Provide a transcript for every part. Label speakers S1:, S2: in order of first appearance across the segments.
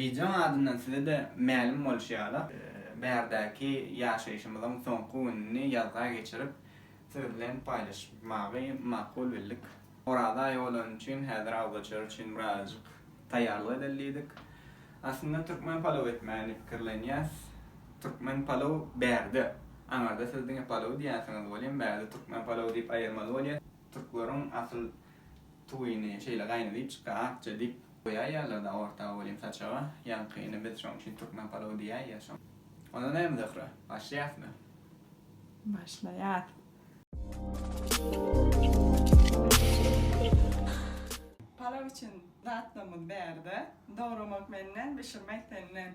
S1: Bijan adyndan size-de mälim bolşy ýaly, bärdäki ýaşaýşymyzyň soňky gününi ýazga geçirip, siz bilen paýlaşmagy makul bildik. Oraza aýy bolany üçin häzir awzaçar üçin birazajyk taýýarlyk edeli diýdik. Aslynda türkmen palaw etmäni diýip pikirlenýäs. Türkmen palaw bärde. Aňarda siz diňe palaw diýýänsiňiz welin, bärde türkmen palawy diýip aýyrmaly bolýar. Türkleriň asyl tuýyny şeýle gaýna diýip çykýar, akja diýip. Goý aýallarda aorta welin saçaga ýaňkyny biz şoň üçin türkmen palawy diýäýýä soň. Onda näme Zöhre? Başlaýasmy? Başlaýas. Palaw üçin zatlarymyz bärde. Dogramak menden, bişirmek senden.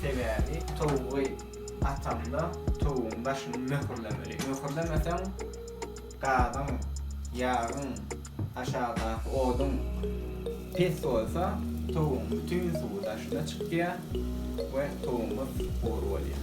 S1: Sebäbi towugy ataňda towugyň daşyny möhürlemeli. Möhürlemeseň gazyň, ýagyň, aşakdaky oduň pes bolsa towugyň bütin suwy daşyna çykýar we towugymyz gury bolýar.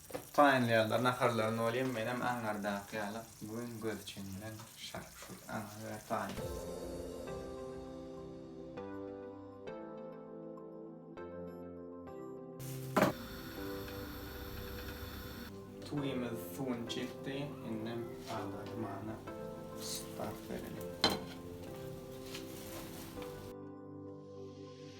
S1: Taýynlaýarlar naharlaryny welin menem aňardaky ýaly bu gün göz çen bilen şarp şurp aňa we taýyn. Suwymyz suwuny çekdi indem aglar dymana start bereli.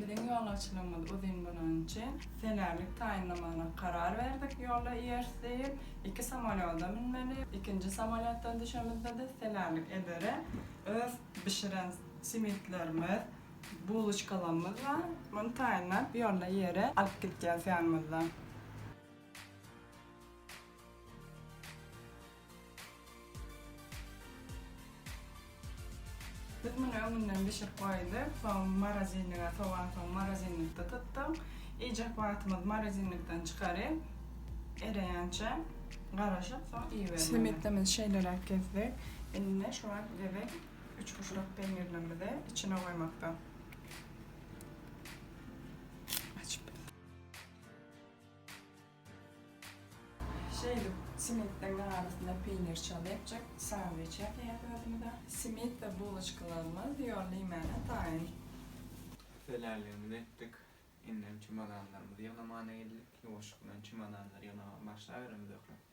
S1: Biziň ýolagçylygymyz uzyn bolany üçin, senämlik taýynlamagyna karar berdik, ýolda iýeris diýip, iki samolýoda münmeli, ikinji samolýotdan düşemizde-de senämlik edere öz bişiren simitlerimiz, Buloçkalarymyz bar. Muny taýynlap, ýolda ýere alyp gidýäris ýanymyzda. Biz muny öňünden bişirip goýduk. Soň morozinlige sowansoň morozinlikde tutduk. Iýjek wagtymyz morozinlikden çykaryp, ereýänçä garaşyp, soň iýibermeli. Slimitimizi şeýleräk kesdik. Indi şu wagt gezek Üçburçluk peýnirlerimizi içine goýmakda. Şeýdip, simitden arasyna peýnir çalyp, çek, sandwiç ýasaýarys özümize. Simit we buloçkalarymyz ýolly iýmäne taýyn. Hüwdüläligimizi etdik. Indem çemodanlarymyzy ýygnamaga geldik. Ýuwaşlyk bilen çemodanlary ýygnamaga başlaberem Zöhre.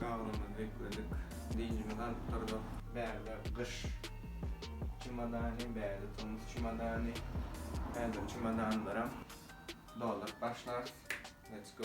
S1: Gabyrymyzy bükledik, dynjymyzy alyp durduk. Bärde gyş çemodany, bärde tomus çemodany. Häzir çemodanlaram dolduryp başlarys. Let's go!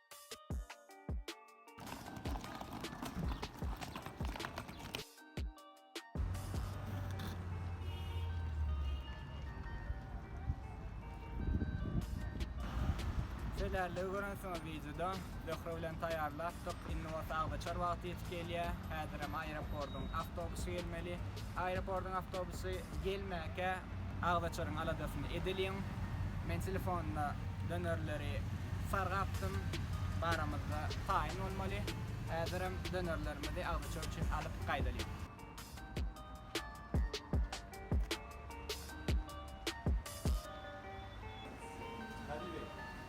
S1: Şeýle görünsüňiz wideoda Zöhre bilen taýýarlapdyk. Indi bolsa agzaçar wagty ýetip gelýär. Häzirem aeroportyň awtobusy gelmeli. Aeroportyň awtobusy gelmäkä agzaçaryň aladasyny edeliň. Men telefonda dönerleri sargapdym. Baramyzda taýyn bolmaly. Häzirem dönerlerimizi agzaçar üçin alyp gaýdalyň.